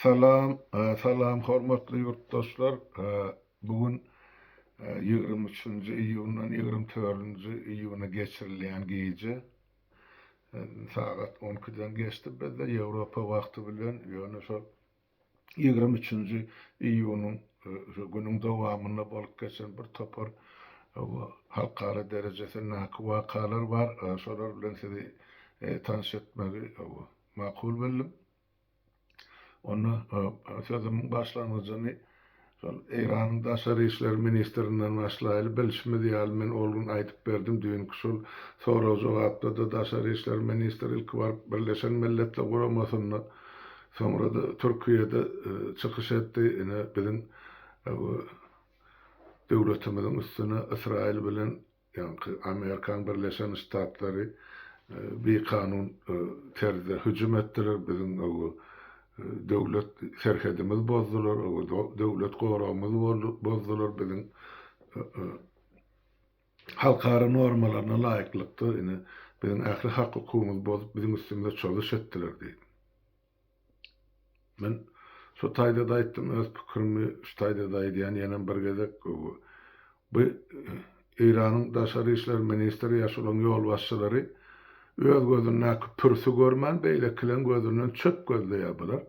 Salam Salam hormatly ýurtdaşlar bu gün ýigrimi üçünji iýundan ýigrimi törünji iýuna geçirilýän gije sagat on ikiden geçdi bizde ýewropa wagty bilen ýöne şol Ýigrimi üçünji iýunyň şu günüň dowamynda bolup geçen bir topar halkara derejesindäki wakalar bar. Şolar bilen sizi tanyş etmegi makul bildim. Onda sözümiň başlangyjyny Şol Eýranyň daşary işler ministrinden başlaýly, bilşimiz ýaly, men ol gün aýdyp berdim, düýnki şol sorag-jogapda-da daşary işler ministri ilki baryp Birleşen Milletler Guramasynda, soňra-da Türkiýede çykyş etdi, ine biziň döwletimiziň üstüne Ysraýyl bilen Ýaňky Amerikan Birleşen Ştatlary bikanun terzde hüjüm etdiler, biziň owo döwlet serhedimiz bozdular, owo döwlet goragymyz bozdular, biziň halkara normalaryna laýyklykda ine biziň ähli hak-hukugymyz bozup biziň üstümizde çozuş etdiler diýip. Men şu taýda-da aýtdym, öz pikirimi şu taýda-da aýdýan, ýenem bir gezek. Bu Eýranyň daşary işler ministri ýa şolaň ýolbaşçylary öz gözündäki pürsi görmän, beýlekileň gözünden çöp gözleýär bular.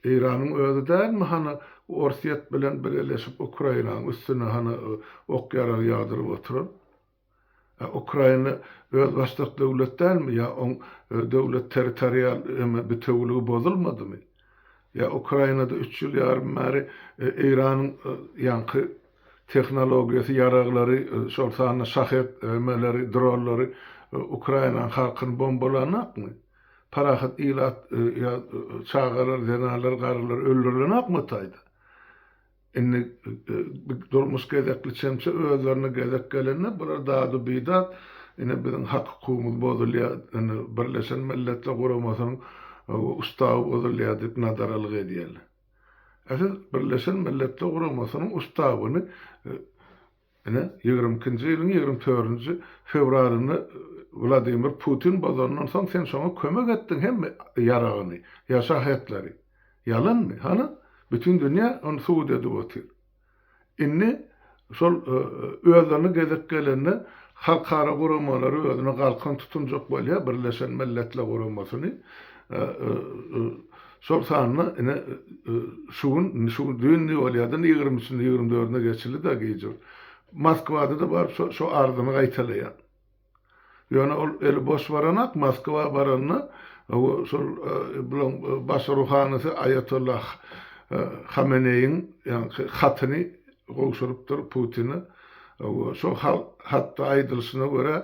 Eýranyň özi dälmi hany Orsýet bilen bileleşip Ukrainaň üstüne hany ok-ýarag ýagdyryp oturan? A Ukraina özbaşdak döwlet dälmi? Ýa oň döwlet territorial eme bitewiligi bozulmadymy? Ýa Ukrainada üç ýyl ýarym bäri Eýranyň ýaňky tehnologiýasy ýaraglary, şol sanda şahed emeleri, dronlary Ukrainanyň halkyny bombalanakmy? Parahat ilat ýa çagalar, zenanlar, garrylar öldürilenakmy o taýda? Indi durmuş gezekli çemçe özlerine gezek gelende bular dadu bidat ine biziň hak hukumymyz bozulýa indi birleşen milletler guramasynyň ustawy bozulýa diýip nadaralyk edýärler. Siz birleşen milletler guramasynyň ustawyny Ine, ýigrimi ikinji ýylyň ýigrimi törünji fewralynda Wladimir Putin bozandan soň sen şoňa kömek etdiň hemme ýaragyny, ýa şahetleri. Ýalanmy? Hany? Bütin dünýä ony subut edip otyr. Indi şol özlerine gezek gelende halkara guramalary özüne galkan tutunjak bolýar, Birleşen Milletler Guramasyny, Şol sanda ine, şu gün, şu düýn-de bolýar-da, ýigrimi üçünde, ýigrimi dördünde geçildi-de gijur. Moskwada-da baryp şo, şo arzyny gaýtalaýar. Ýöne ol eli boş baranak, Moskwa baranda, owo, şol, bulaň baş ruhanysy Aýatolla Hameneýiň, ýaňky hatyny, gowşurypdyr Putini. Şo hatda aýdylyşyna görä,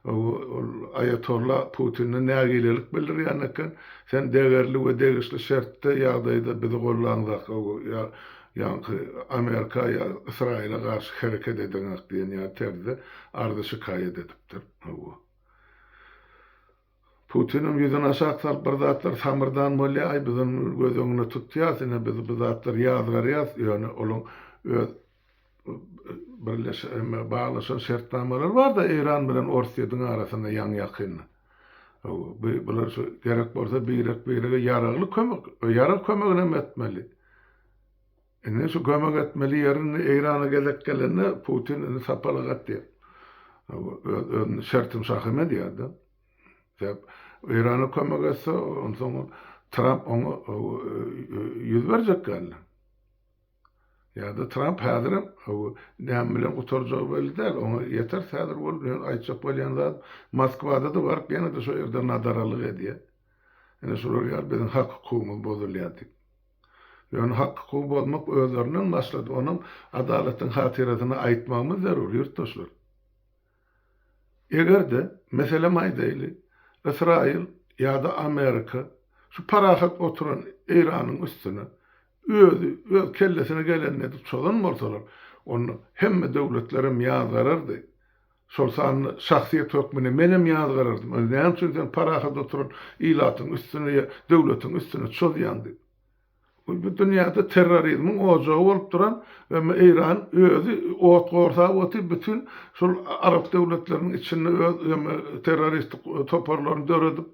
ol aýatolla Putine nägilelik bildirýän eken, Sen degerli we degişli şertde, ýagdaýda bizi gollanzak, ýaňky Amerika ýa Ysraýyla garşy hereket edeňok diýen ýaly terzde arza-şikaýat edipdir. Putiniň ýüzüni aşak salyp bir zatlar samyrdan bolýa, aý biz ony göz öňüne tutýas, ine biz bu zatlary ýazgarýas, ýöne olaň öz birleşen baglaşan şertnamalary barda Eýran bilen Orsýediň arasynda ýaňy ýakynda. Hawa bular şu gerek bolsa birek birege ýaragly kömek, ýarag kömeginem etmeli. Indi şu kömek etmeli ýerini Eýrana gezek gelende Putin indi sapaly gat diýer. Öz özüni şertim şahymä diýerdi. Sebäp Eýrana kömek etse, onsoň Tramp oňa ýüz berjek geldi. Ýa-da Tramp häzirem näme bilen gutarjagy belli däl. Oňa ýeter häzir bolup men aýtjak bolýan zat Moskwada-da baryp ýene-de şo ýerde nadaralyk edýär. Ine şular ýaly biziň hak-hukugymyz bozulýar diýip. Ýöne hak hukugy bozmak özlerinden başlady, onam adalatyň hatyrasyna aýtmagymyz zerur, ýurtdaşlar. Eger-de, meselem aýdaýly, Ysraýyl ýa-da Amerika şu parahat oturan Eýranyň üstüne özi öz kellesine geleni edip çozan bolsalar, onda hemme döwletlerem ýazgarardy, Şol sanda şahsyýet hökmünde menem ýazgarardym, Öz näme üçin sen parahat oturan ilatyň üstüne ýa döwletiň üstüne çozýaň diýip. Bu bu dünýäde terrorizmiň ojagy bolup duran we me Eýran özi ot gorsap otyp bütin şol arap döwletleriniň içinde öz terroristik toparlaryny döredip,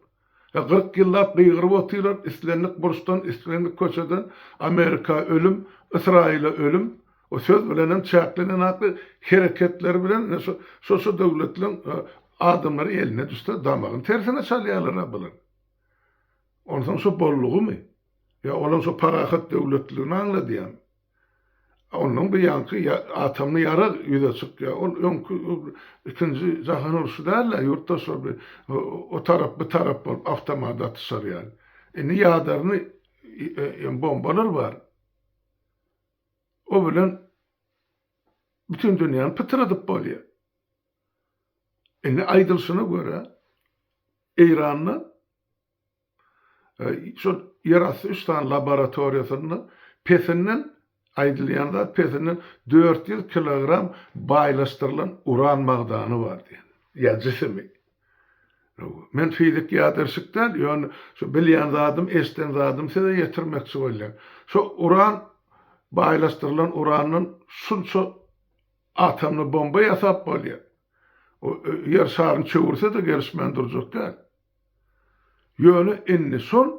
He kyrk ýyllap gygyryp otyrar islendik burçdan islendik köçeden Amerika ölüm Ysraýyla ölüm we söz bilen hem çäklenen akly hereketleri bilen ine şu şo şo döwletleriň adamlary eline düşse damagyny tersine çalýarlara bularyň. Onsoň şo boldugymy? Ýa olam şo parahat döwletliligini aňladýamy? Ondan bir ýaňky atomly ýarag ýüze çykýar. Ol öňki ikinji jahan urşy däl-de, ýurtlar şol bir o tarap, bu tarap bolup awtomat atyşar ýaly. Indi ýadarny ýa bombalar bar. O bilen bütin dünýäni pytradyp bolýar. Indi aýdylşyna görä, Eýranda Şol ýerasty üç sany laboratoriýasynda pesinden, aýdylýan zat pesinden dört ýüz kilogram baýlaşdyrylan uran magdany bar diýen. Ýa jisimi. Men fizik ýadyrşyk däl, ýöne şu bilýän zadym, eşden zadym size ýetirmekçi bolýan. Şo uran baýlaşdyrylan urandan şunça atomly bomba ýasap bolýar. O Ýer şaryny çöwürse-de gelişmän durjak däl. Ýöne indi şol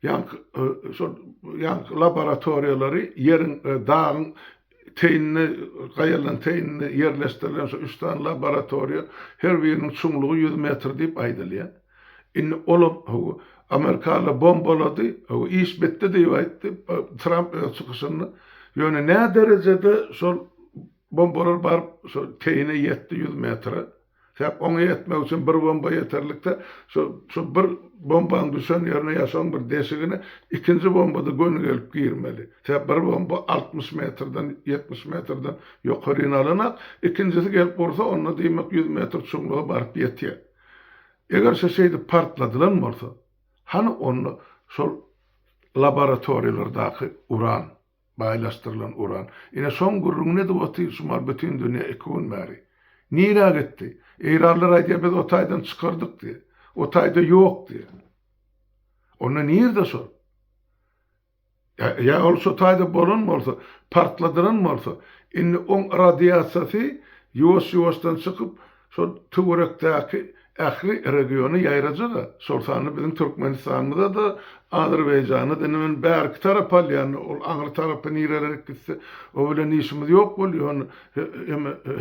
ýaňky laboratoriýalary ýeriň, dagyň teýinde, gaýalaryň teýinde ýerleşdirilen şu üç sany laboratoriýa, her biriniň çuňlugy ýüz metr diýip aýdylýar. Indi olam, hawa, Amerikalylar bombalady, hawa, iş bitdi diýip aýtdy Tramp öz çykyşynda. Ýöne nä derejede şol bombalar baryp, şol teýine ýetdi, ýüz metre? Sebäp oňa ýetmek üçin bir bomba ýeterlikde, şu şu bir bombanyň düşen ýerine ýasawyň bir deşigine ikinji bombada göni gelip girmeli. Sebäp bir bomba altmyş metrden, ýetmiş metrden ýokaryny alanak, ikinjisi gelip ursa onda diýmek ýüz metr çuňluga baryp ýetýär. Eger şu şeýdip partladylan bolsa, hany onda şol laboratoriýalardaky uran? Baýlaşdyrylan uran. Ine şoň gürrüňini edip otyr şumal bütin dünýä iki gün bäri. Nirä gitdi? Eýranlar aýdýar biz o taýdan çykardyk diýýär. O taýda ýok diýýär. Onda nirde şol? Ýa ol şo taýda bolan bolsa, partladylan bolsa, indi oň radiasiýasy ýuwaş-ýuwaşdan çykyp, Şol töwerekdäki ähli regiona ýaraja-da, şol sanda biziň Türkmenistanymyza-da, Azerbaýjana-da, indi men bärki tarapy alýan, ol aňry tarapy nirelere gitse, o bilen işimiz ýok bolýar, ony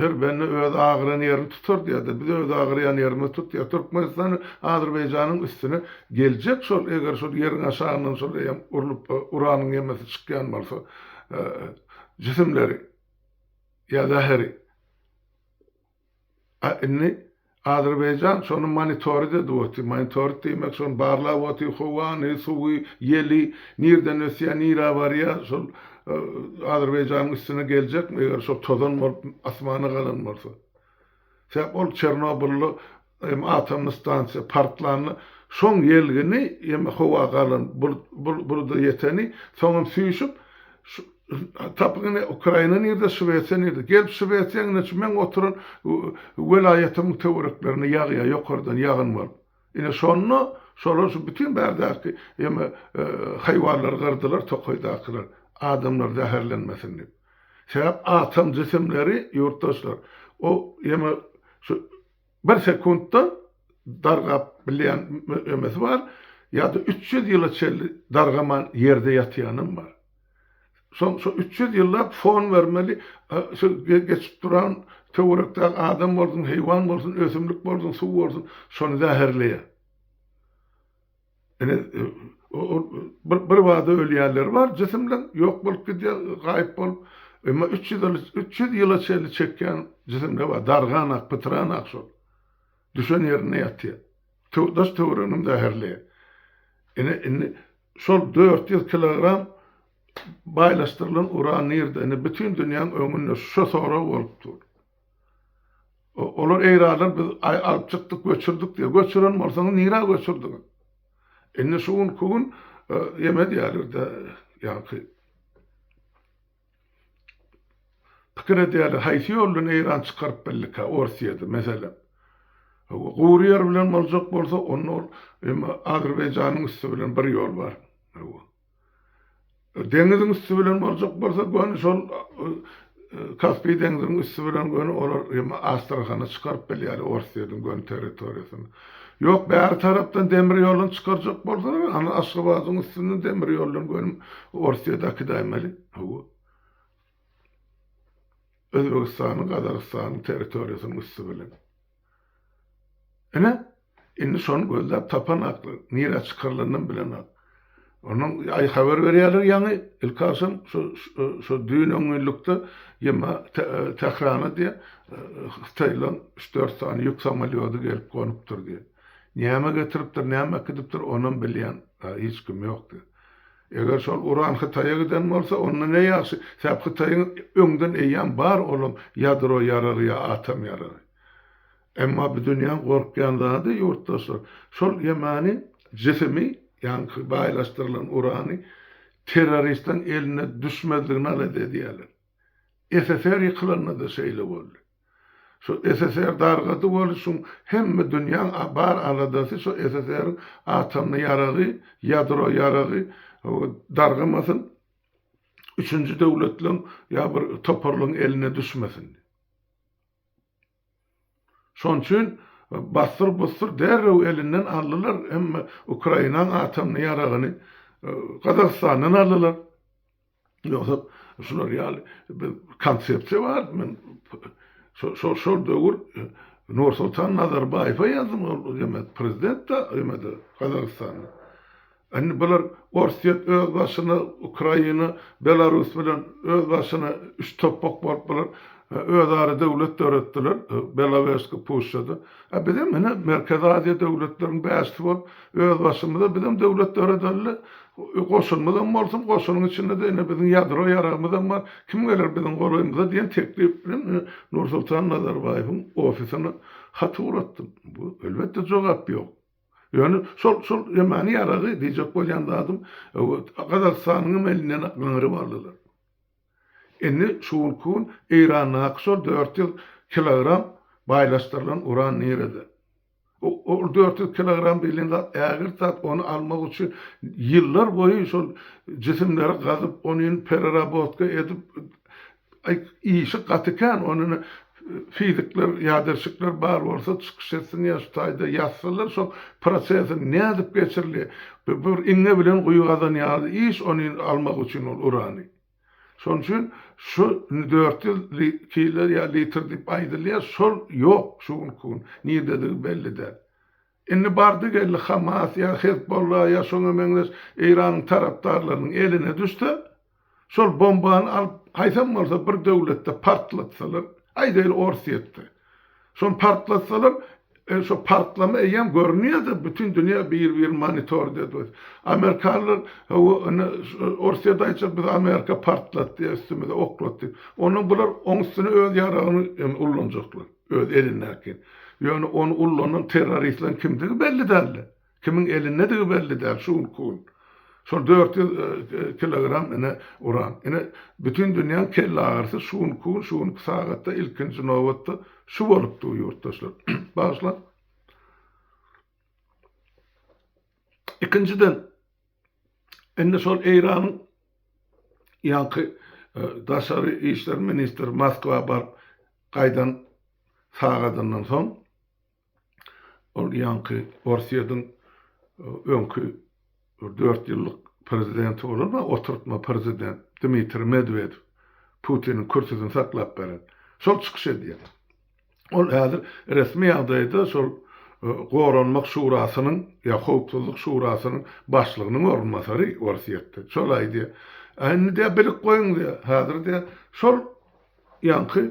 her bende öz agyran ýerini tutar diýýär-de, biz öz agyrýan ýerimizi tutýas. Türkmenistan Azerbaýjanyň üstüne geljek şol, eger şol ýeriň aşagyndan şol eýýäm urlup, uranyň ýemesi çykýan bolsa, jisimleri ýa zäheri. A indi Azerbaýjan şony monitorid edip otyr. Monitorid diýmek şony barlap otyr, howany, suwy, ýeli, nirden ösýär, nirä barýar, şol Azerbaýjanyň üstüne geljekmi eger şol tozan bolup asmana galan bolsa. Sebäp ol Çernobylda Ýeme atomly stansiýa partlanda şoň ýelgini ýeme howa galan buluda ýeteni soňam süýşüp tapyň ine ukraina nirde şwesiýa nirde gelip şwesiýa ine şu meň oturan welaýatymyň töwereklerine ýagýa ýokardan ýagyn bolup ine şonda şolar şu bütin bärdäki ýeme haýwanlary gyrdylar tokaýdakylar adamlar zäherlenmesin dip sebäp atom jisimleri ýurtdaşlar o ýeme şu Bir sekuntda dargap bilýän möemesi bar, ýa-da üç ýüz ýyla çenli dargaman ýerde ýatýanam bar. Soň şo üç ýüz ýyllap fon bermeli, şu geçip duran töwerekdäki adam bolsun, heýwan bolsun, ösümlik bolsun, suw bolsun, şony zäherleýär. Ine, ol bir bada ölýänleri bar, jisim bilen ýok bolup gidýär, gaýyp bolup. Emma üç ýüz ýyl, üç ýüz ýyla çenli çekýän jisimde bar, dargan ak, pytran ak şol. Düşen ýerinde ýatýar. Daş-töwereginem zäherli. Ine, indi şol dört ýüz kilogram baýlaşdyrylan uran nirde? Indi bütin dünýäň öňünde şo sorag bolup dur. Olar eýranlar biz alyp çykdyk, göçürdik diýýär. Göçüren bolsaňyz nirä göçürdiňiz? Indi şu günki gün ýeme diýýärler-de, ýaňky pikir edýärler, haýsy ýol bilen Eýran çykaryp bildikä Orsýedi, meselem. Gury ýer bilen boljak bolsa, onda ol Azerbaýjanyň üsti bilen bir ýol bar. Deňiziň üsti bilen boljak bolsa göni şol Kaspi deňziniň üsti bilen göni olar hem Astrahana çykaryp bilýärler Orsýetiň göni territoriýasyny. Ýok bäri tarapdan demir ýoluny çykarjak bolsalar anda Aşgabadyň üstünden demir ýoldan göni Orsýet akidäýmeli. Hawa. Özbegistanyň Gazagystanyň territoriýasynyň üsti bilen. Ine, indi şony gözläp tapan aklyk, nirä çykarylandan bilenok. Onuň aý habar berýärler ýaňy, ilki agşam şu şu düýn on günlükde ýa-ma Tährana diýýä, hytaýlaryň üç-dört sany ýük samolýody gelip gonupdyr diýýä. Näme getiripdir, näme äkidipdir, onam bilýän hiç kim ýok diýýä. Eger şol uran Hytaýa giden bolsa, onda ne ýagşy, sebäp Hytaýyň öňden eýýäm bar olam ýadro ýaragy ýa atom ýaragy. Emma bu dünýäň gorkýan zady, ýurtdaşlar, şol ýemany jisimi, ýaňky baýlaşdyrylan urany terroristiň eline düşmezligini alada edýärler. SSR ýykylanda-da şeýle boldy. Şu SSR dargady bol şuň hemme dünýäň bar aladasy şu SSR-iň atomny ýaragy ýadro ýaragy dargamasyn üçünji döwletleň ýa bir toparlaň eline düşmesin. Şoň üçin bassyr bussyr derrew elinden aldylar hemme Ukrainaň atomny ýaragyny Gazagystandan aldylar. Ýogsa şular ýaly bir konsepsiýa bar. Men şo şol döwür Nursultan Nazarbaýewe ýazdym, ol demek prezident da öýmedi Gazagystanda. Indi bular Orsýet öz başyna, Ukraina, Belarus bilen öz başyna üç topbak bolup bular özara döwlet döretdiler Belowežsky puşşada. A bizem ine Merkezi Aziýa döwletleriniň bäşisi bolup öz başymyza bizem döwlet döredeli. Goşunymyz hem bolsun, goşunyň içinde-de ine biziň ýadro ýaragymyz hem bar, kim geler biziň golaýymyza diýen teklip bilen ine Nursultan Nazarbaýewiň ofisine hat ugratdym. Bu elbetde jogap ýok. Ýöne şol şol ýamany ýaragy diýjek bolýan zadym Gazagystanyň hem elinden gyňyryp aldylar. Indi şu günki gün Eýrandaky şol dört ýüz kilogram baýlaşdyrylan uran nirede? Ol dört ýüz kilogram diýlen zat ägirt zat, ony almak üçin ýyllar boýy şol jisimleri gazyp, ony pererabotka edip, işi gaty kän, ony fizikler, ýaderşikler bar bolsa çykyş etsin ýa şu taýda ýazsalar şol prosesiň nädip geçirilýär. Bir iňňe bilen guýy gazan ýaly iş ony almak üçin ol urany. Şonuň üçin şu dört ýüz kilo ýa litr diýip aýdylýar, şol ýok şu günki gün, nirdedigi belli däl. Indi bardy-geldi Hamas ýa Hezbolla ýa şoňa meňzeş Eýranyň tarapdarlarynyň eline düşse, şol bombany alyp, haýsam bolsa bir döwletde partlatsalar, aýdaýly Orsýetde, Şony partlatsalar, şo partlama eýýäm görünýärdi, bütin dünýä bir-birini monitor edýär. Amerikanlar, hawa, indi Orsýet aýtjak, bizi Amerika partlatdy ýa üstümize oklatdy. Onda bular oň üstüne öz ýaragyny ullanjaklar, öz elindäkini. Ýöne ony ullanan terroristleň kimdigi belli däldi. Kimiň elindedigi belli däl şu günki gün. Şol dört ýüz kilogram ine uran. Ine bütin dünýäň kelleagyrysy şu günki gün, şu günki sagatda ilkinji nobatda şu bolup dur ýurtdaşlar. Bagyşlaň. Ikinjiden indi şol Eýranyň ýaňky daşary işler ministri Moskwa baryp gaýdan sagadyndan soň Ol ýaňky Orsýetiň öňki bir dört ýyllyk prezidenti bolan we oturtma prezident Dmitriý Medwedew Putiniň kürsüsini saklap beren. Şol çykyş edýär. Ol häzir resmi ýagdaýda şol Goranmak şurasynyň ýa Howpsuzlyk şurasynyň başlygynyň orunbasary Orsýetde. Şol aýdýar. A indi diýýär bilip goýuň diýýär. Häzir diýýär şol ýaňky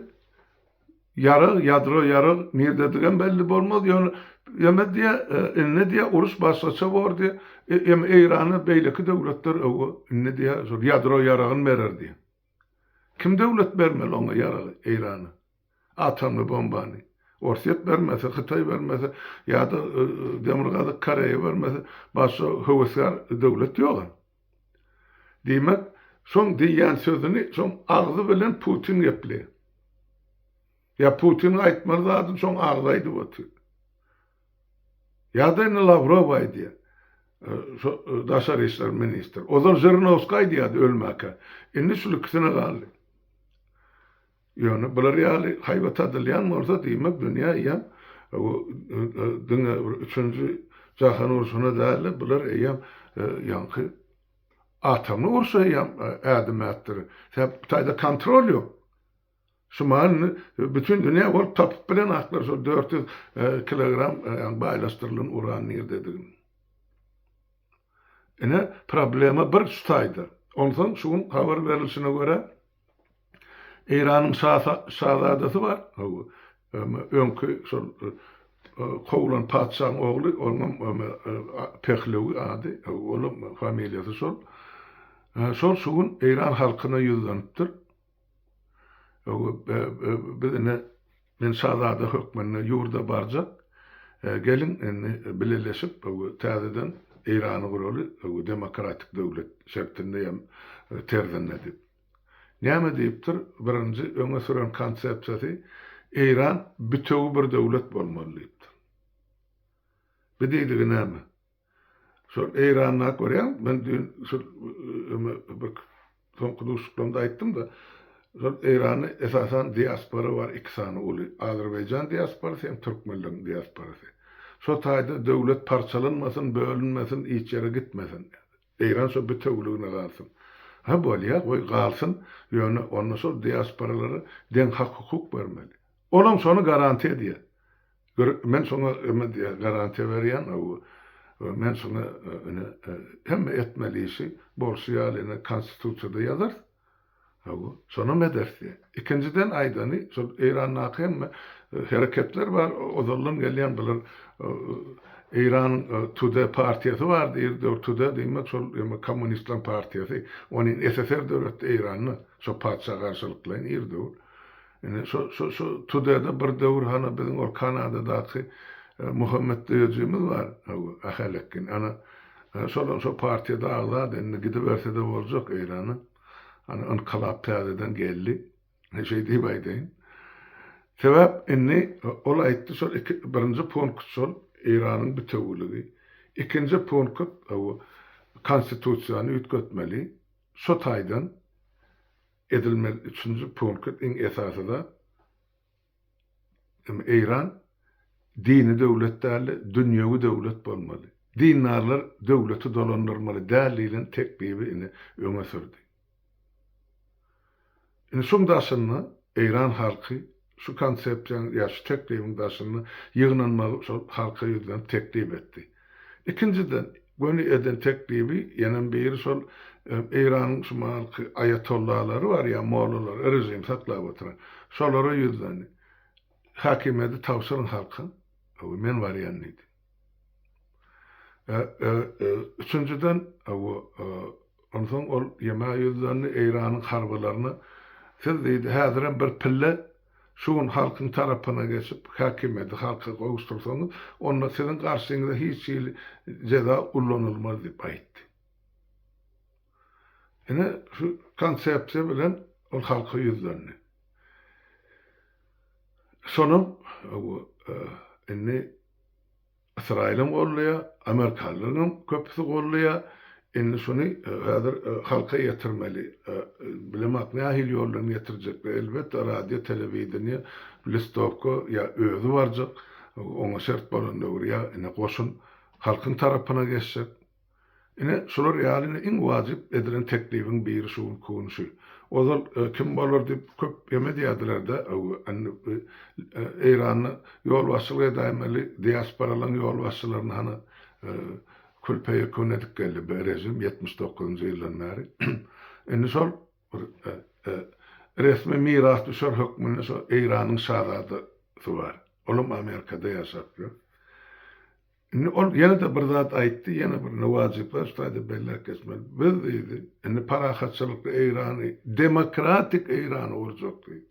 Ýarag, ýadro ýarag nirdedigem belli bolmaz, ýöne ýöne diýä, indi diýä uruş başgaça bor diýä, ýöne Eýrana beýleki döwletler öwgo indi diýä şol ýadro ýaragyny berer diýä. Kim döwlet bermeli oňa ýaragy Eýrana? Atomly bombany? Orsýet bermese, Hytaý bermese ýa-da Demirgazyk Koreýa bermese, başga höwesgär döwlet ýog-a. Diýmek, şoň diýýän sözüni şoň agzy bilen Putin gepleýär. Ýa Putiniň aýtmaly zadyny şoň agzy aýdyp otyr. Ýa-da indi Lawrow aýdýar. Şo daşary işler ministri. Ozal Žirnowskiý aýdýardy ölmäkä. Indi şul ikisine galdy. Ýöne bular ýaly haýbat adylýan bolsa diýmek dünýä eýýäm bu diňe bir üçünji jahan urşuna dälde bular eýýäm ýaňky atomly urşa eýýäm ädim ätdirir. Sebäp bu taýda kontrol ýok. Şu mahaly indi bütin dünýä bolup tapyp bilen aklar şol dört ýüz kilogram ýaňy baýlaşdyrylan uran nirdedigini. Ine problema bir şu taýda. Onsoň şu gün habar berilişine görä, Eýranyň şazadasy bar, öňki şol kowlan patyşaň ogly, onuňam Pehlewi ady, olam familiýasy şol. Şol şu gün Eýran halkyna ýüzlenipdir. Biz ine Men şazada hökmünde ýurda barjak. Geliň, indi bileleşip, täzeden Eýrany guraly, demokratik döwlet şertinde ýa terzinde diýip. Näme diýipdir? Birinji öňe süren konsepsiýasy, Eýran bütewi bir döwlet bolmaly diýipdir. Bi diýdigi näme? Şol Eýranda görýän, men düýn şol bir soňky duşuşyklarymda aýtdym-da, şol Eýranda esasan diaspora bar iki sany uly, Azerbaýjan diasporasy hem türkmenleriň diasporasy. Şo taýda döwlet parçalanmasyn, bölünmesin, hiç ýere gitmesin. Eýran şo bitewüligine galsyn. Hä bolýa, goý galsyn, ýöne onda şol diasporalara deň hak-hukuk bermeli. Olam şony garantiýa edýär. Gör, men saňa eme diýýän, garantiýa berýän, hawa. Men saňa ene hemme etmeli işi bolşy ýaly ene konstitusiýada ýazarys. Hawa, şonam ederis diýýär. Ikinjiden aýdany, şol Eýrandaky hemme hereketler bar, ozaldan gelýän bular Eýranyň Tude partiýasy bar diýr, döwür Tude diýmek şol eme kommunistleriň partiýasy. Ony ssr döretdi Eýranda, şo patyşa garşylyklaýyn ir döwür. Indi şo, şo, şo Tudede bir döwür hany biziň ol Kanadadaky Muhammet döýejimiz bar, hawa, Ahalekgin. Ana, şolam şo partiýada agzady. Indi gidiberse-de boljak Eýrana. Ana, ynkylap täzeden geldi. He, şeý diýip aýdaýyn. Sebäp indi ol aýtdy, şol iki, birinji punkt şol, Eýranyň bitewüligi. Ikinji punkt, hawa, Konstitusiýany üýtgetmeli. Şo taýdan. edilmeli üçünji punkt iň esasy zat hem Eýran dini döwlet däldi dünýewi döwlet bolmaly dindarlar döwleti dolandyrmaly däl diýlen teklibi indi öňe sürdi indi şuň daşynda Eýran halky Şu konsepsiýanyň ýa şu teklibiň daşynda ýygnanmagy şol halka ýüzlenip teklip etdi. Ikinjiden, göni eden teklibi ýenem biri şol Eýranyň şu mahalky aýatollalary bar ýa mollalary, režimi saklap oturan. Şolara ýüzlendi. Häkimiýeti tabşyryň halka, men barýan diýdi. Üçünjiden, onsoň ol Ýemeýa ýüzlendi, Eýranyň harbylaryna, Siz, diýdi, häzirem bir pille şu gün halkyň tarapyna geçip, häkimiýeti halka gowuşdyrsaňyz, onda siziň garşyňyza hiç hili jeza ullanylmaz diýip aýtdy. Ine, şu konsepsiýa bilen ol halka ýüzlendi. Şonam indi Ysraýylam goldaýar, amerikanlaryň hem köpüsi goldaýar. Indi şuny häzir halka ýetirmeli. Bilemok nähili ýoldan ýetirjekler. Elbetde radio, telewideniýe, listowka ýa özi barjak, oňa şert bolan döwür ýa indi goşun halkyň tarapyna geçjek. Ine, şular ýaly indi iň wajyp edilen teklibiň biri şu günki gün şu. Ozal kim bolar diýip köp ýem edýärdiler-de, indi Eýranda ýolbaşçylyk edäýmeli diasporalaryň ýolbaşçylaryny hany kül-peýekun edip geldi bu režim ýetmiş dokuzynjy ýyldan bäri. Indi şol bir resmi mirasdüşer hökmünde şo Eýranyň şazadasy bar. Olam Amerikada ýaşap ýör. Indi ol ýene-de bir zat aýtdy, ýene bir ne wajyplar şu taýda belläp geçmeli. Biz diýdi, indi parahatçylykly Eýrany, demokratik Eýrany gurjak diýdi.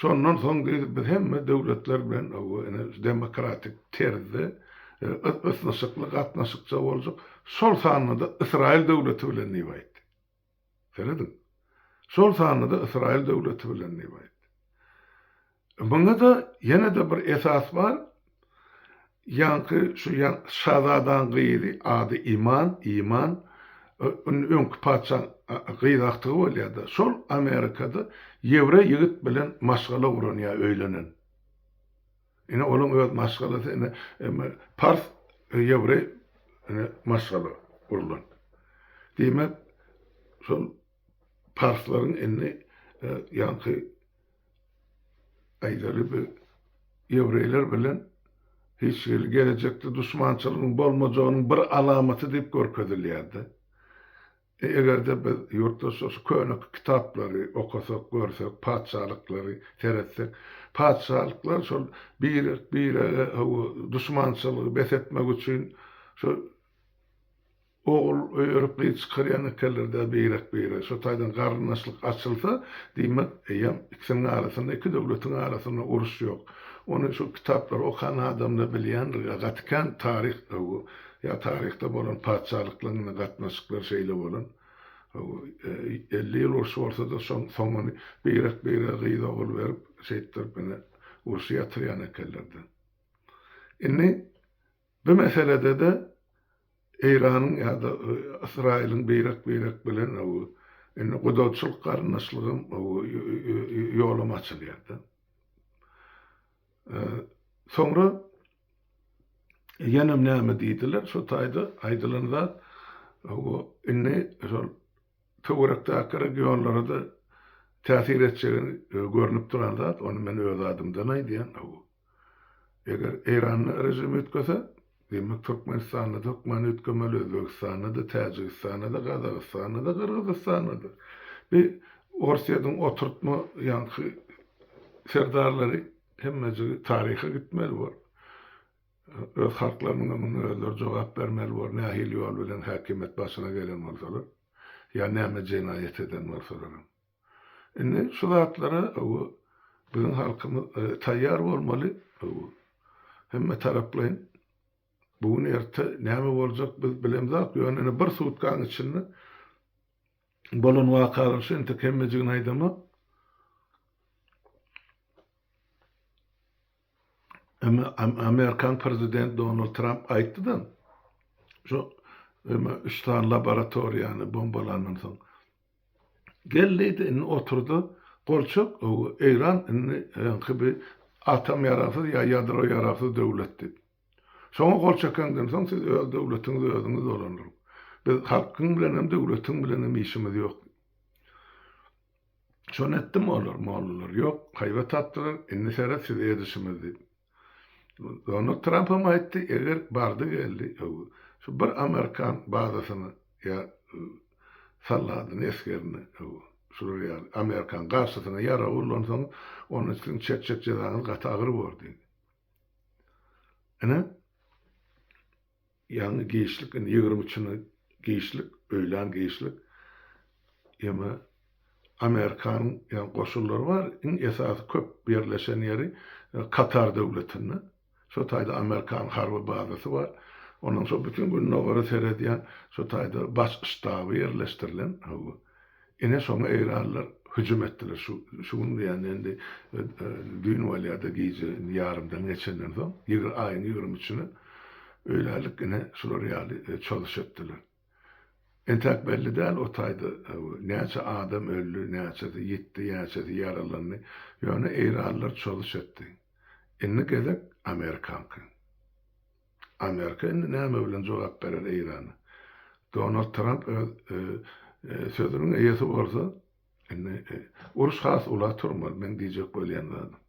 Şondan soň diýdi, biz hemme döwletler bilen oba ine şu demokratik terzde ysnyşykly gatnaşykja boljak, şol sanda-da Ysraýyl döwleti bilen diýip aýtdy. Serediň. Şol sanda-da Ysraýyl döwleti bilen diýip aýtdy. Muňa-da ýene-de bir esas bar, ýaňky şu şazadaň gyzy, ady Iman, Iman, öňki patyşaň gyz agtygy bolýar-da, şol Amerikada ýewreý ýigit bilen maşgala guran ýa öýlenen. Ine olaň öz maşgalasy ine emme pars ýewreý ine maşgala gurlan. Diýmek şol parslaryň indi ýaňky aýdaly bir ýewreýler bilen hiç hili gelejekde duşmançylygyň bolmajagynyň bir alamaty diýip görkezilýärdi. Eger-de biz ýurtdaşlar şu köne kitaplary okasak, görsek, patyşalyklary seretsek, patyşalyklar şol birek-birege hawa duşmançylygy bes etmek üçin şu ogul öýerip gyz çykarýan ekenler-dä birek-birege. Şo taýdan garyndaşlyk açylsa, diýmek, eýýäm ikisiniň arasynda, iki döwletiň arasynda uruş ýok. Ony şu kitaplary okan adam-da bilýändir, gaty kän taryh hawa. Ýa taryhda bolan patyşalyklaryň ine gatnaşyklary şeýle bolan. Elli ýyl uruş bolsa-da, şoň soňuny beýrek-beýrege gyz-ogul berip, şeýtdirip ine urşy ýatyrýan ekenler-de. Indi bu meselede-de Eýranyň ýa-da Ysraýylyň beýrek-beýrek bilen indi gudaçylyk garyndaşlygam ýolam açylýar-da. Soňra. Ýenem näme diýdiler, şo taýda aýdylan zat, hawa, indi şol töwerekdäki regionlara-da täsir etjegi görnüp duran zat, ony men öz adymdan aýdýan, hawa. Eger Eýranda režim üýtgese, diýmek, Türkmenistanda-da hökman üýtgemeli, Özbegistanda-da, Täjigistanda-da, Gazagystanda-da, Gyrgyzystanda-da. Bi Orsýetiň oturtma ýaňky serdarlary, Hemmejigi taryha gitmeli bor. Öz halklarynyňam muňa özleri jogap bermeli bor, nähili ýol bilen häkimiýet başyna gelen bolsalar, ýa näme jenaýat eden bolsalaram. Indi şu zatlara bu biziň halkymyz taýýar bolmaly. Bu hemme taraplaýyn. Bu gün erte näme boljak biz bilemzok. Ýöne indi bir sutkaň içinde bolan wakalar şu entek hemmejigini aýdamak. Emma amerikan prezident Donald Trump aýtdy-da, şu emma üç sany laboratoriýany bombalandan soň geldi-de indi oturdy, gol çök, Eýran indi öňki bir atom ýaragsyz ýa ýadro ýaragsyz döwlet diýip. Şoňa gol çekeňden soň siz öz döwletiňizi özüňiz dolandyryň. Biz halkyň bilenem, döwletiň bilenem işimiz ýok. Şony etdim olar, mollalar, ýok, haýbat atdylar, indi seret size edişimiz diýip. Donald Trampam aýtdy, eger bardy geldi, şu bir amerikan bazasyny ýa soldadyny, esgerini, şular ýaly amerikan garşysyna ýarag ullansaňyz, onda siziň çekjek jezaňyz gaty agyr bor diýdi. Ine, ýaňy giçlik, indi ýigrimi üçine giçlik, öýlän giçlik. Ýeme, Amerikanyň ýaňy goşunlary bar, iň esasy köp ýerleşen ýeri Katar döwletinde. Şo taýda Amerikan harby bazasy bar. Ondan soň bütin Gündogara seredýän şo taýda baş ştaby ýerleşdirilen. Hawa. Ine şoňa eýranlylar hüjüm etdiler. Şu, şu gün diýýän indi düýn bolýar-da gije indi ýarymdan geçenden soň, ýigr, aýyň ýigrimi üçüne öýlänlik ine şular ýaly çozüş etdiler. Entäk belli däl o taýda näçe adam öldi, näçesi ýitdi, näçesi ýaralandy. Ýöne eýranlylar çozüş etdi. Indi gezek amerikanky. Amerika indi näme bilen jogap berer Eýrana? Donald Tramp öz sözüniň eýesi bolsa, indi uruş has ula turmaly, meň diýjek bolýan zadym.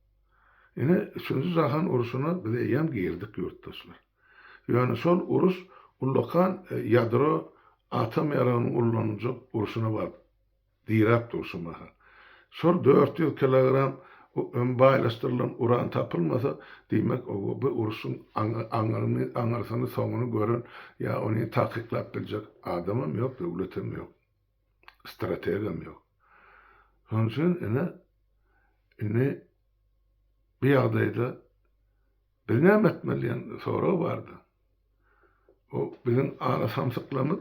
Ine, üçünji jahan uruşyna biz eýýäm girdik, ýurtdaşlar. Ýöne şol uruş ullakan ýadro atom ýaragynyň ullanyljak urşuna baryp Diräp dur şu mahal. Şol dört ýüz kilogram öm baýlaşdyrylan uran tapylmasa, diýmek, oba bu urşuň aňyryny, aňyrsyny, soňuny gören ýa ony takyklap biljek adamam ýok, döwletem ýok. Strategam ýok. Şonuň üçin, ine, indi bu ýagdaýda, Biz näme etmeli diýen sorag bardy. O biziň ala samsyklarymyz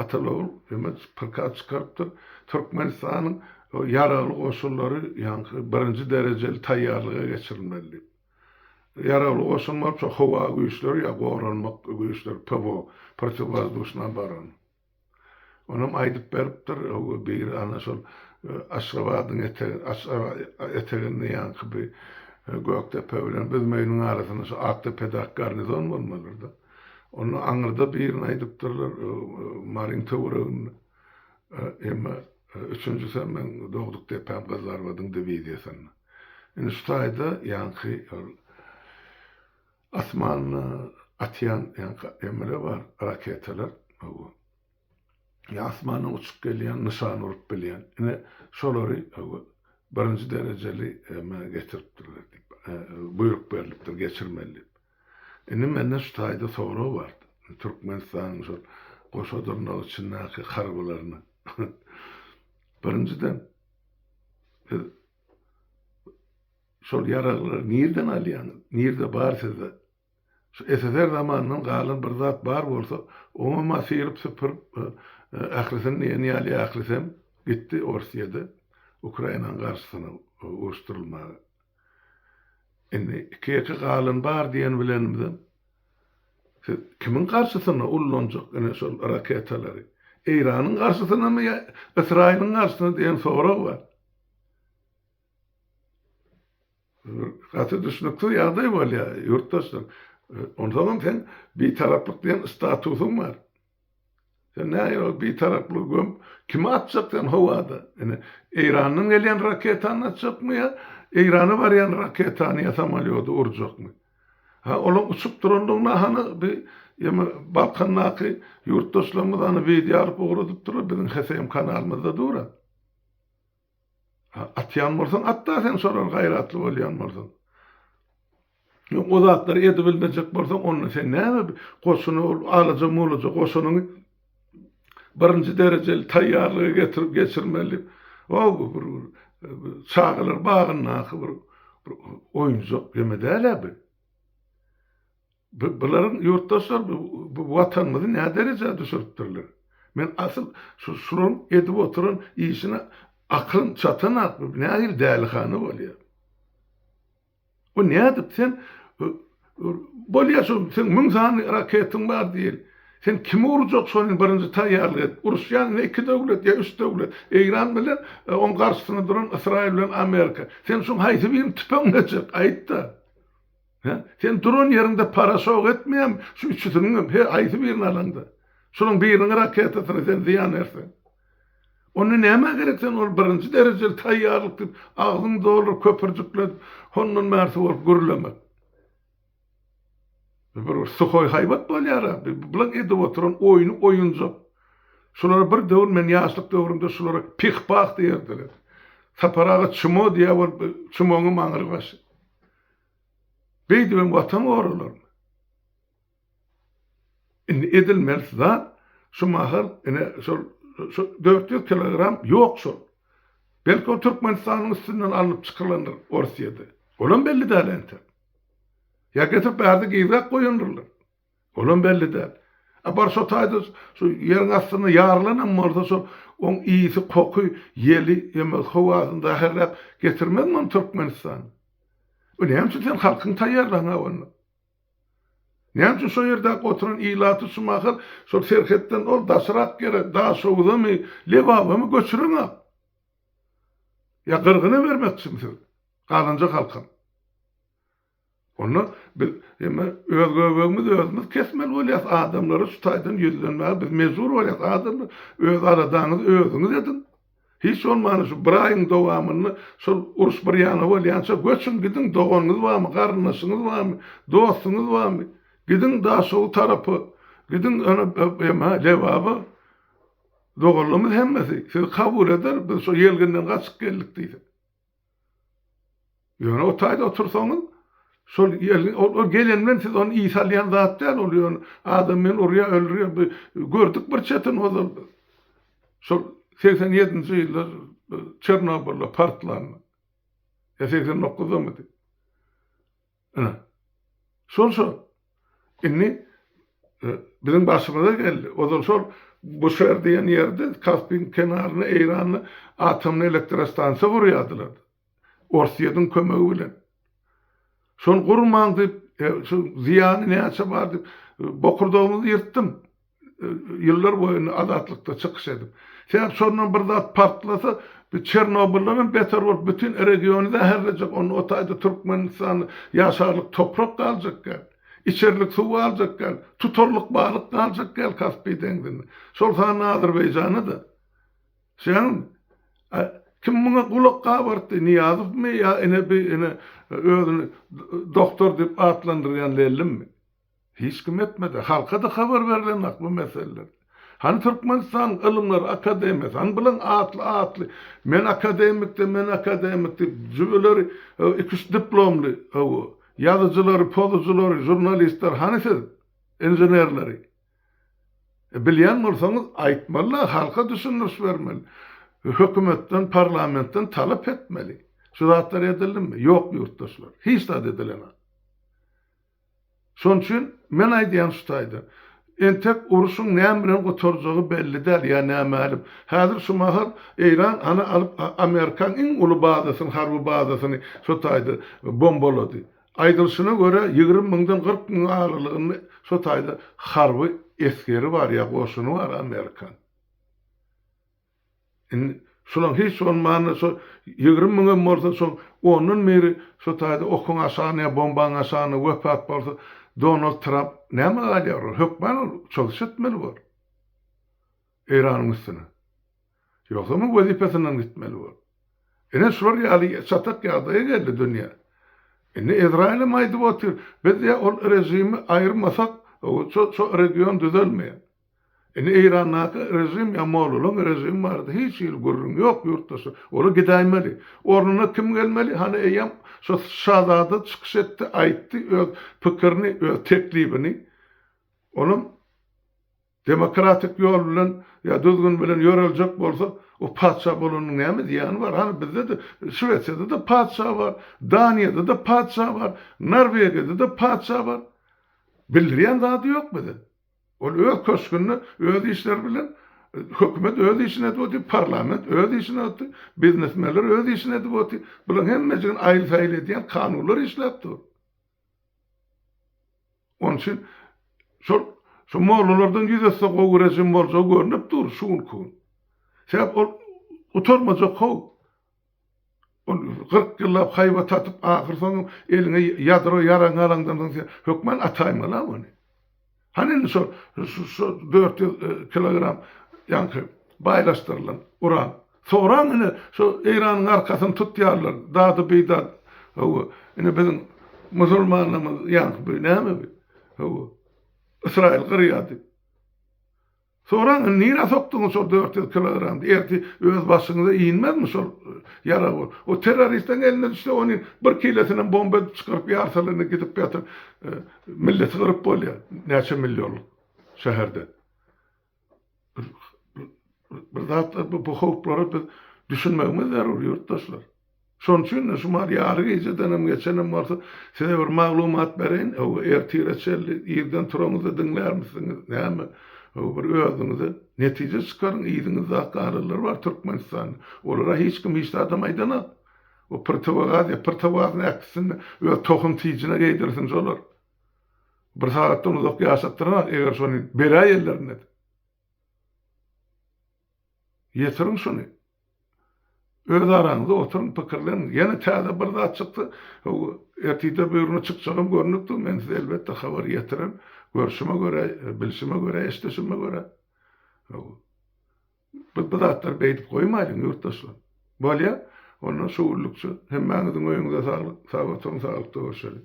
Ataly-ogul Ömedow prikaz çykarypdyr. Türkmenistanyň ýaragly goşunlary ýaňky birinji derejeli taýýarlyga geçirilmeli diýip. Ýaragly goşun bolup, şo howa güýçleri ýa goranmak güýçleri, PWO, protiwwozduşna obarona. Onam aýdyp beripdir, biri ana şol Aşgabadyň eteginde ýaňky bir Gökdepe bilen Büzmeýiniň arasynda şu Akdepedaky garnizon bolmalydyr-da. Onda aňyrda birini aýdypdyrlar, Maryň töwereginde. Emma üçünjisem meň dogduk depäm Gyzlarbadyň diwiziýasynda. Indi şu taýda ýaňky ol. Asmanda atýan ýaňky emele bar raketalar hawa. Ýa asmandan uçup gelýän nyşan urup bilýän. Ine şolary hawa birinji derejeli emä getiripdirler diýip buýruk berlipdir geçirmeli diýip. Indi mende şu taýda sorag bar. Türkmenistanyň şol goşa dyrnak içindäki harbylaryna. Birinjiden biz Şol ýaraglary nirden alýaňyz? Nirde bar sizde? Şu SSR zamanyndan galan bir zat bar bolsa, oňam-a syryp-süpürip, ahyrysyn diýen ýaly ahyrysem gitdi Orsýede Ukrainanyň garşysyna uruşdyrylmaga. Indi iki-ýeke galan bar diýen bilenimizem, siz kimiň garşysyna ullanjak ine şol raketalary? Eýranyň garşysynamy ýa Ysraýylyň garşysyna diýen sorag bar. Gaty düşnüksiz ýagdaý bolýar, ýurtdaşlar. Onsoňam sen Bitaraplyk diýen statusyň bar. Sen nähili ol Bitaraplygy gömüp, kimi atjak sen howada? Ine, Eýrandan gelýän raketany atjakmy ýa Eýrana barýan raketany ýa samolýody urjakmy? Ha, olaň uçup durandygyna hany bi ýeme Balkandaky ýurtdaşlarymyz hany wideo alyp ugradypdyrlar, biziň HSM kanalymyzda dur-a. Atýan bolsaň at-da sen şolary gaýratly bolýan bolsaň. Ýok o zatlary edibilmejek bolsaň onda sen näme goşuna ol alaja-mulaja goşunyň birinji derejeli taýýarlygy getirip geçirmeli. O bir çagalar bagyndaky bir oýunjak ýeme däl-ä bu. Bu bularyň ýurtdaşlar bu bu watanymyzy nä derejä düşüripdirler. Men asyl şu şularyň edip oturan işine aklym çatanak bu nähili dälihana bolýa. Bu nädip sen bolýa şu sen müň sany raketyň bar diýeli. Sen kimi urjak şony birinji taýýarlyk edip uruşýan ne iki döwlet ýa üç döwlet Eýran bilen oň garşysyna duran Ysraýyl bilen Amerika. Sen şuň haýsy birini tüpeňlejek aýtda. Hä? Sen duran ýeriňde paraşok etmeýärmi? Şu üçüsiniňem, her haýsy birini alaňda. Şolaryň biriniň raketasyna sen zyýan berseň. Onda nämä gerek sen ol birinji derejeli taýýarlyk diýip, agzyňy dolduryp, köpürjikledip, hondan bärsi bolup gürlemek. Bu bir suhoý haýbat bolýar-a. Bularyň edip oturan oýny oýunjak. Şulara bir döwür men ýaşlyk döwrümde şulara pih-pah diýerdiler. Sapar aga çmo diýýär bolup, çmoňam aňry başy. Beýdibem watan goralarmy? Indi edilmelisi zat şu mahal ine şol dört ýüz kilogram ýok şol. Belki ol Türkmenistanyň üstünden alnyp çykylandyr Orsýede. Olam belli däl entek. Ýa getirip bärde gizläp goýandyrlar. Olam belli däl. A bar şo taýda şu ýeriň astynda ýarylanam bolsa şol oň ysy, koky, ýeli ýa-da howasyny zäherläp getirmezmi ony Türkmenistana? Bu näme üçin sen halkyňy taýýarlaňa onda? Näme üçin şo ýerdäki oturan ilaty şumahyr şol serhetden ol daşrak ýere Daşoguzamy, Lebabamy göçüreňok? Ýa gyrgyna bermekçimi siz? Galanjak halkam. Onda biz emme öz göbegimiz özümiz kesmeli bolýas adamlara şu taýdan ýüzlenmäge biz mejbur bolýas adamlar öz aladaňyzy özüňiz ediň hiç bolmanda şu bir aýyň dowamynda şol uruş bir ýana bolýança göçüň gidiň doganyňyz barmy garyndaşyňyz barmy dostuňyz barmy gidiň daşogu tarapa gidiň ene emme lebaba doganlarymyz hemmesi sizi kabul eder biz şo ýelginden gaçyp geldik diýse. Ýöne o taýda otursaňyz, şol ýelin, ol, ol gelen bilen siz ony iý salýan zat däl, ol ýöne adam bilen urýar, öldürýär, bi, gördük bir çetini ozal biz. Şol segsen ýedinji ýyllar Çernobylda partlanda. Ýa segsen dokuzdamydy? Ine. Şol şol. Indi e, biziň başymyza geldi. Ozal şol Buşer diýen ýerde Kaspiň kenarynda Eýranda atomly elektrostansiýa gurýardylar. Orsýetiň kömegi bilen. Şony gurmaň diýip, e, şu zyýany näçe bar diýip, e, bokurdagymyzy ýyrtdym. ýyllar boýuna azatlykda çykyş edip. Sebäp şondan bir zat partlasa, bu Çernobyldanam beter bolup bütin regiony zäherlejek, onda o taýda Türkmenistan ýaşarlyk toprak galjak däl. Içerlik suw galjak däl. Tutarlyk balyk galjak däl Kaspi deňzinde. Şol sanda Azerbaýjana-da. Şeýdäňizmi? A kim muňa gulak gabartdy? Nyýazowmy ýa ine bi ine özüni doktor diýip atlandyrýan Lellimmi? Hiç kim etmedi. Halka-da habar berilenok bu meseleler. Hany Türkmenistanyň Ylymlar akademiýasy, hany bilen atly atly men akademik-de, men akademik diýip jübüleri iki-üç diplomly hawa, ýazyjylary, pozujylary, žurnalistleri hany siz, inženerleri? E bilýän bolsaňyz aýtmaly-da, halka düşündiriş bermeli. Hökümetden, parlamentden talap etmeli. Şu zatlar edildimi? Ýok ýurtdaşlar. Hiç zat edilenok. Şonuň üçin men aýdýan şu taýda. Entek uruşyň näme bilen gutarjagy belli däl ýa nämälim. Häzir şu mahal Eýran ana alyp Amerikaň iň uly bazasyny harby bazasyny şu taýda bombalady. Aýdylyşyna görä ýigrimi müňden kyrk müň aralygynda şu taýda harby esgeri bar ýa goşuny bar Amerikaň. Indi şulam hiç bolmanda şo ýigrimi müňem bolsa şoň ondan biri şo taýda okuň aşagyna ýa bombaň aşagyna wepat bolsa Donald Tramp näme galýar ol hökman ol çozuşy etmeli bor Eýranyň üstüne ýogsam ol wezipesinden gitmeli bor ine şular ýaly çatak ýagdaýa geldi dünýä indi Ezraýylem aýdyp otyr biz ýa ol režimi aýyrmasak şo region düzelmeýär. Indi Eýrandaky režim ýa mollalaň režimi barada hiç hili gürrüň ýok ýurtdaşlar. Olar gidäýmeli. Ornuna kim gelmeli? Hany eýýäm şo şazada çykyş etdi, aýtdy öz pikirini, öz teklibini. Olam demokratik ýol bilen ýa düzgün bilen ýöreljek bolsa, o patyşa bolanyň näme zyýany bar? Hany bizde-de Şwesiýada-da patyşa bar, Daniýada-da patyşa bar, Norwegiýada-da patyşa bar. Bildirýän zady ýok bize. Ol öz köşgünde öz işleri bilen hökümet öz işini edip otyr, parlament öz işini otyr, biznesmenler öz işini edip otyr. Bularyň hemmejigini aýyl-saýyl edýän kanunlar işläp dur. Onuň üçin şol şu mollalardan ýüz ötse gowy režim boljagy görnüp dur şu günki gün. Sebäp ol gutarmajak howp. Ol kyrk ýyllap haýbat tatyp, ahyrsoňam eliňe ýadro ýaragyňy alaňdan soň sen hökman ataýmaly-a ony. Hany indi şo şo dört ýüz kilogram ýaňky baýlaşdyrylan uran. Soraň indi şo Eýranyň arkasyny tutýarlar, dady-bidady. Hawa, indi biziň musulmanlarymyz ýaňky bu näme bu? Hawa, Ysraýyl gyrýar diýip. Soraň, indi nirä sokduňyz şol dört ýüz kilogramy? Ertir öz başyňyza inmezmi şol ýarag bolup? O terroristiň eline düşse, ony bir kilosynam bomba edip çykaryp ýarsalar, indi gidip ýatyr, milleti gyryp bolýar, näçe millionlyk şäherde. Bir zatlar, bu howplara biz düşünmegimiz zerur, ýurtdaşlar. Şonuň üçin-de şu maal ýary gijedenem geçenem bolsa, size bir maglumat bereýin. Hawa, ertire çenli irden turaňyzda diňlärmisiňiz, näme? Hawa, bir özüňize netije çykaryň. Yzyňyzda galanlar bar Türkmenistanda. Olara hiç kim hiç zadam aýdanok. O prtowagaz ýa prtowaz näkisini öz tohum-tijine geýdirsin şolar. Bir sagatdan uzak ýaşatdyranok, eger şony beräýenlerinde. Ýetiriň şuny. Öz araňyzda oturyň, pikirleniň. Ýene täze bir zat çyksa, ertirde buýruna çykjagam görnüpdir. Men size elbetde habar ýetirerin. Görşüme görä, bilşime görä, eşdişime görä. Biz bu zatlary beýdip goýmaýlyň, ýurtdaşlar. Bolýa, onda şu günlükçe hemmäňiziň öýüňize saglyk. Sag oturyň, saglykda görşeliň.